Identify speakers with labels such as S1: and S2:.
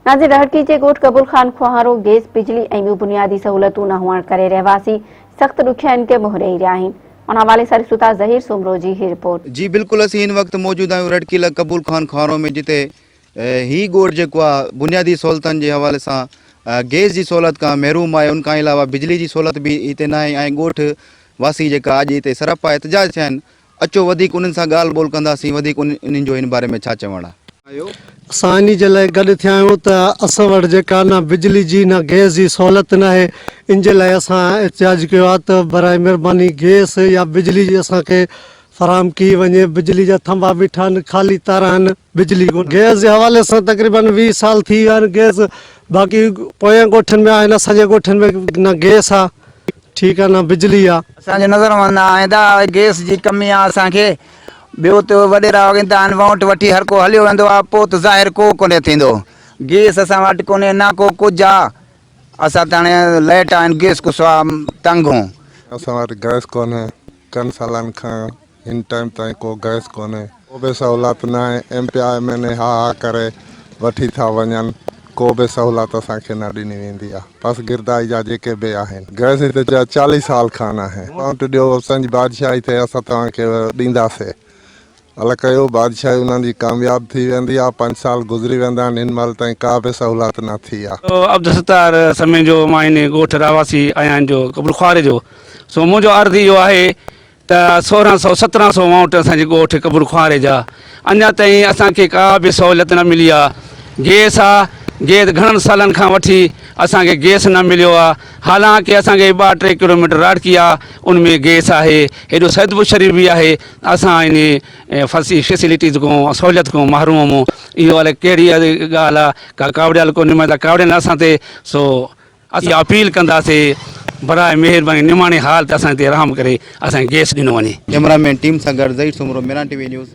S1: ناظر رهڙڪي جي ڳوٺ قبول خان کوهارو گئس، بجلي ۽ ٻيون بنيادي سهولتون نه هئڻ ڪري رهواسي سخت ڏکيائين کي منهن ڏئي رهيا آهن. ان حوالي سان ڏسون ٿا ظهير سومرو جي هي رپورٽ. جي بلڪل اسين هن وقت
S2: موجود آهيون رهڙڪي ضلع قبول خان کوهارو ۾ جتي هي ڳوٺ جيڪو آهي بنيادي سهولتن جي حوالي سان گئس جي سهولت کان محروم آهي ان کان علاوه بجلي جي سهولت به هتي ناهي ۽ ڳوٺ واسي جيڪا اڄ هتي سراپا احتجاج ٿيا آهن اچو وڌيڪ انهن سان ڳالهه ٻولهه ڪنداسين وڌيڪ انهن جو هن باري ۾ ڇا چوڻ آهي. اسان انهي
S3: جي لاء گڏ ٿيا آهيون ته اسان وٽ جيڪا نه بجلي جي نه گئس جي سهولت ناهي ان جي لاء اسان احتجاج ڪيو آهي ته براء مهرباني گئس يا بجلي جي اسان کي فراهم ڪئي وڃي بجلي جا ٿنڀا بيٺا آهن خالي تار آهن بجلي ڪونهي گئس جي حوالي سان تقريبن ويهه سال ٿي ويا آهن گئس باقي پوين ڳوٺن ۾ آهن اسان جي ڳوٺن ۾ نه گئس آ ٺيڪ آ نه بجلي آ. اسان جي نظر ۾ نه
S4: آهي ته گئس جي ڪمي آ اسان کي ٻيو ته وڏيرا وڳين ته آهن وونٽ وٺي هر ڪو هليو ويندو آ پوء ته ظاهر ڪو ڪونهي ٿيندو گئس اسان وٽ ڪونهي نه ڪو ڪجهه آ اسان ته هاڻي لئٽ آهن گئس کان سوا تنگ هون. اسان وٽ گئس
S5: ڪونهي چئن سالن کان هن ٽائيم تائين ڪو گئس ڪونهي. ڪو به سهولت ناهي M P A M N A ها ها ڪري وٺي ٿا وڃن ڪو به سهولت اسان کي نه ڏني ويندي آ پس گردائي جا جيڪي به آهن گئس هي ته جا چاليهه سال کان ناهي اڪائونٽ ڏيو اسان جي بادشاهي ٿئي اسان توهان کي ڏيندا سي الا ڪيو بادشاهي انهن جي ڪامياب ٿي ويندي آ پنج سال گذري ويندا آهن هن مهل تائين ڪا به سهولت نه ٿي آ. عبدالستار
S6: سمين جو مان هن ڳوٺ رهواسي آهيان جو قبرخواري جو سو منهنجو عرض اهو آهي ته سورهن سئو سترهن سئو وانوٽ اسان جي ڳوٺ قبر خواري جا اڃا تائين اسان کي ڪا به سهوليت نه ملي آ گيس آ گيس گهڻن سالن کان وٺي اسان کي گيس نه مليو آ حالانڪه اسان کي ٻه ٽي ڪلوميٽر راڙڪي آ ان ۾ گيس آهي هيڏو سيدپور شريف به آهي اسان ان فسي فيسليٽيز کان سهوليت کان محروم هون اهو الائي ڪهڙي ڳالهه آ ڪا ڪاوڙيل ڪونهي مان ته ڪاوڙين اسان تي سو اسين اپيل ڪنداسي براء مهرباني نماڻي حال تي اسان تي رحم
S2: ڪري
S6: اسان کي
S2: گئس
S6: ڏنو
S2: وڃي. ڪئميرا
S6: مين ٽيم
S2: سان
S6: گڏ
S2: Zaheer
S6: Soomro
S2: Meeran
S6: T V
S2: news.